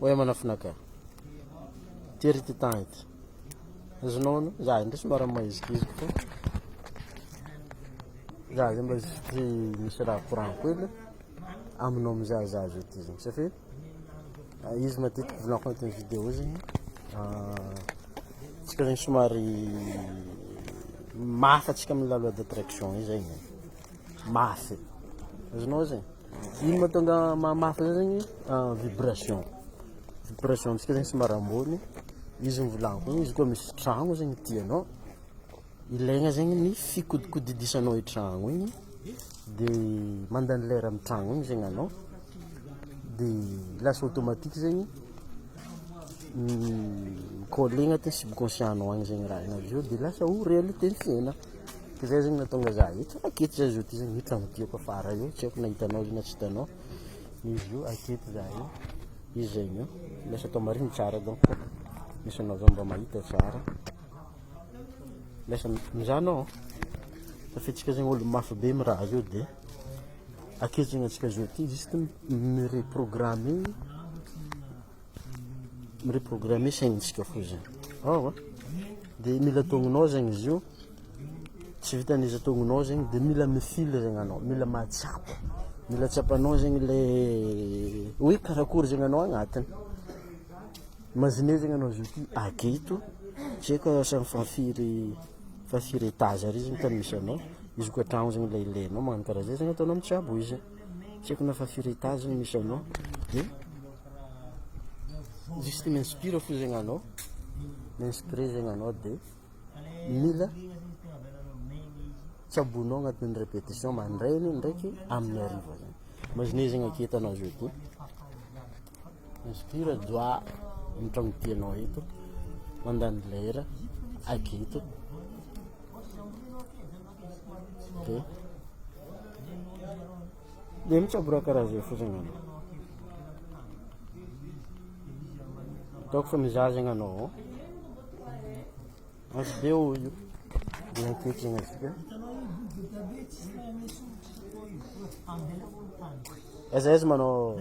Oe manafinaka. Tery ity temps ity. Azonao no za ndray somary maizikiziko fa. Za zay mba zitry misy raha courant koa le aminao mizay za zao ity zegny satria ah, izy matetiky volanko agnatin'ny vidéo zegny ah, tsika zegny somary mafy atsika amin'ny la loi d'attraction io zegny mafy azonao zegny Ino mahatonga mahamafy zay zegny vibration vibration amintsika zegny somary ambony izy mivolagna koa izy koa misy tragno zegny tianao ilaigna zegny ny fikodikodidisanao i tragno igny de mandany lera amy tragno igny zegny anao de lasa automatique zegny mi-coller agnatin'ny subconscient-nao agny zegny raha igny avy eo de lasa ho réalité ny fiaignana. Zay zegny nahatonga za eto aketo za zao ty zegny eto agny ty kôfa ara io tsy aiko na hitanao izy na tsy hitanao izy io aketo za io izy zegny io lasa atao marigny tsara donc misy anao zao mba mahita tsara lasa mizaha anao fa fetsika zegny olo mafy be amy raha zao de aketo zegny antsika zao ty juste mi-reprogrammer. mireprogrammer saignintsika foizany ao a de mila tongonao zegny izy io tsy vitan'izy tongonao zegny de mila mifily zegny anao mila mahatsapa mila tsapanao zegny le hoe karakory zegny anao agnatiny imagine zegny anao zao ty ake ito tsy aiko asa fa firy fa firy etage ary izy no tany misy anao izy koa an-tragno zegny le ilainao magnano karaha zay zegny ataonao mitsabo izy. Tsy haiko na fa firy étage no misy anao dia juste mi-inspire fo zegny anao mi-inspire zegny anao dia mila tsaboinao agnatin'ny répétition mandraigny ndraiky amin'ny hariva zany imaginez zegny aketo anao jeudi mi-inspire doha amin'ny tragno dianao eto mandany lera aketo Dia dia mitsabora karaha zay fotsiny anao. Ataoko fa mizazagna anao. Asy dia ho io. Dia ankehitriny asika. Aiza aiza manao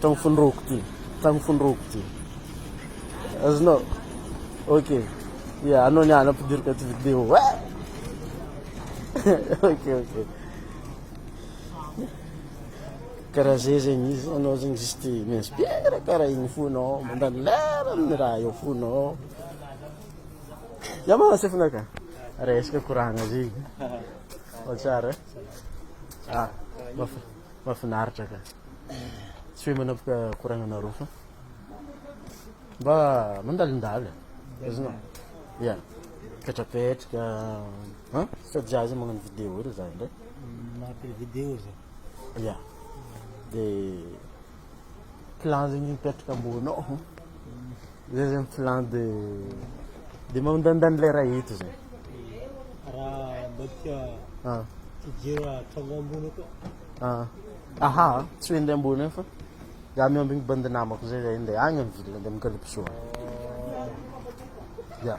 Tragno fonoroako ty. Tragno fonoroako ty. Azonao. Ok. Ya, anao ny ana ampidiriko aty vidéo. Eh! ok, ok. Karaha zay zegny izy, anao zegny juste mi-inspire karaha igny fonao, mandany lera amin'ny raha eo fonao. Yamaha sefona ka. Resaka koragna zegny. Ao tsara. Ah, mafa. Mafinaritra ka. Tsy hoe manapaka koragnana roa fa mba mandalindala. Azonao? Yeah. Petrapetraka. Ha? Sady za zay magnano vidéo ery za ndray. Magnapela vidéo za. Yeah. Dia Clan zegny mipetraka ambonao zay zegny clan de de mandanindany le raha eto zegny raha mbadika ah fijery tragno ambony koa ah aha tsy hoe ndeha ambony fa za miambigny bandy namako zay zay ndeha agny am ville ndeha mikalipso ya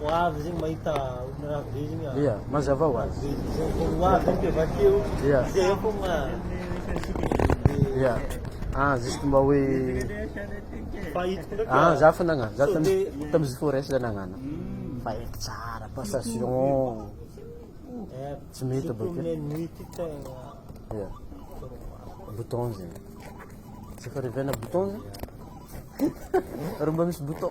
Ho avy zegny mahita olona raha be zegny ah. Ia, mazava ho azy. Vao ho avy zegny ke vakeo. Ia. Zay ah fogna. Ia. Ah, juste mba hoe Fa hitako ndraiky ah. ah, za fa nagnano, za tamy Sode. tamy Zifores za nagnano. Fa haiko tsara passation. Eh, Tsy mety c'est bakeo. combien de nuit ty tegna. Ia. Bouton zegny. Tsy efa revena bouton zegny? Ary mba misy bouton.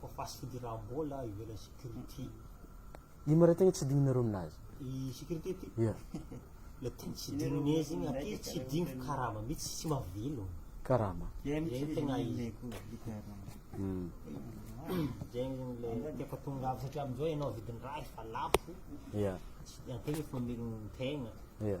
Ko fast food ra mbola ivelan'ny security. Ino mare tegna tsy digninareo aminazy? I security ty? Yeah. Le tegna tsy dignine zegny aty tsy digny karama mitsy tsy mahavelogno. Karama. Zegny tegna izy. Mm. Zegny zegny le tiako atonga avy satria amin'izao ianao vidin-draha efa lafo. Yeah. Tsy antegna efa mamelogno tegna. Yeah.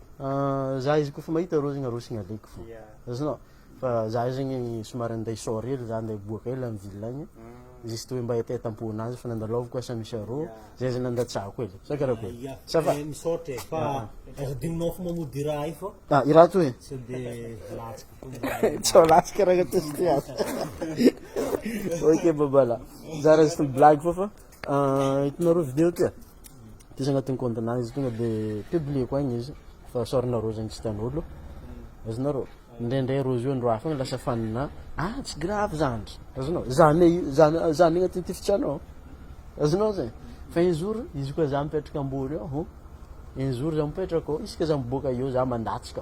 Za izy kôfa mahita rô zegny arosony aleoko fô azonao fa za zegny somary andeha sort hely za andeha hiboaka hely any ville agny juste hoe mba hetaheta am-ponazy fa nandalaovako asa misy arô zay zany nandatsahako hely sa karakory ça va misaotra e fa aza adinonao fo mamodia i raha i fô ah i raha toy e sao de latsaka fô tsy ho latsaka raha agnatosy ty ato ok babala za raha juste blague fô fa Ah hitanareo video ty ah? Diso agnatin'ny compte-nah izy tonga de publieko agny izy fa sorona rose igny tsy tian'olo, azonareo? Indraindray rose io andro hafa agny lasa fan-nah, ah tsy gravy zandry, azonao? Zah ne io zah ne zah ne agnatin'ny tifitsianao, azonao zay? Fa un jour izy koa zah mipetraka ambory ao, un jour zah mipetraka ao isaka zah miboaka eo zah mandatsaka.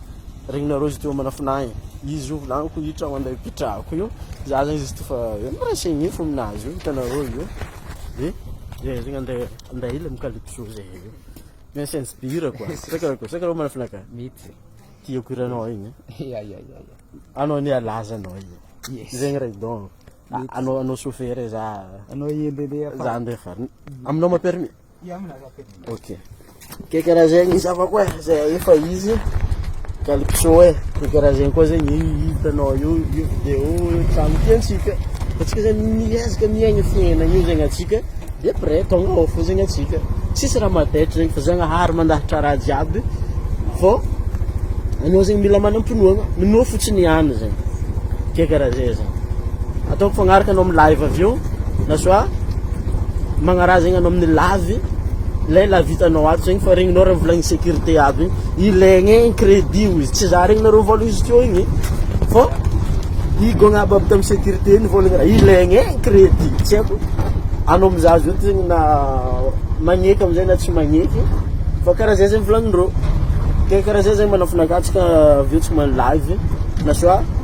Regnina Rose teo amina fina e. Izy io volany ko hitra ho an'ilay mpitrako io. Za zany izy tofa hoe miraisigny ny fo aminazy io hitanareo io. Dia dia regny andeha andeha ila mikalipso zay io. Mia sense bira quoi. Saka ko saka mana fina ka. Mety. Tiako hiranao igny. Ya ya ya ya. Anao ni alaza anao igny. Yes. Zegny ray don. Anao anao sofera za. Anao iendelea. Za andeha farany. Aminao ma permis? Ok. Ke karaha zegny zavako e, zay ahefa izy calypso e, ke karaha zegny koa zegny io hitanao io io vidéo io trano tiantsika. Antsika zany miezaka miaigna fiainana io zegny antsika de après tonga ao fo zegny antsika. Tsisy raha madaitra zegny fa Zagnahary mandahatra raha jiaby fô anao zegny mila manam-pinoagna, minoa fotsiny ihany zegny. Ke karaha zay zany. Ataoko fagnaraka anao amin'ny live avy eo. na soit magnaraha zegny anao amin'ny lavy lay lavy hitanao ato zegny fa regninao raha volagny sécurité aby igny ilaigna igny crédit o izy tsy za regninareo vola izy teo igny fô higogna aby aby tamin'ny sécurité igny volagny raha ilaigna igny crédit tsy haiko anao mizaha azy io ty zegny na magneky am'zay na tsy magneky fa karaha zay zegny volagnindreo ke karaha zay zegny manafinaka atsika avy eo tsy magnano lavy na soit.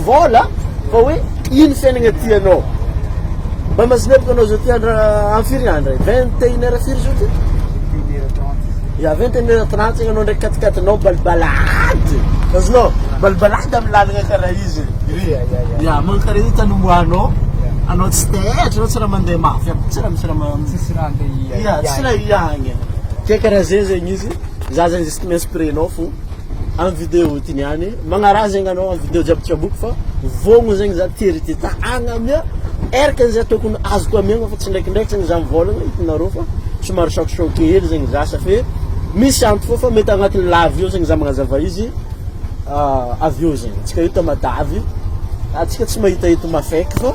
Vol a! Fa hoe ino fiainagna tianao? Mba mazineviko anao zao ty andro amy firy andro e? Vingt et une heure firy zao ty? Ya vingt et une heure trente zagny anao ndray katikatinao balibalady azonao? Balibalady amy lalagna kara io zegny ya mankare io tany omboanao anao tsy taitra anao tsy raha mande mafy aby tsy raha misy raha ma- Tsisy raha andeha hiahy. ya tsy raha hiahy anie ke kara zegny zegny izy za zany zisty mi-inspire nao fô am video ity niany magnaraha zegny anao am video jiaby tsaboiko fa vogno zegny za tery ty ta agna amia eraka zay tokony azoko amiagna fa tsy ndraikindraiky zegny za mivôlagna itanareo fa somary choc choc hely zegny za sa fe misy anto fô fa mety agnatin'ny lavy eo zegny za magnazava izy avy eo zegny tsika io tamatavy atsika tsy mahita eto mafaiky fô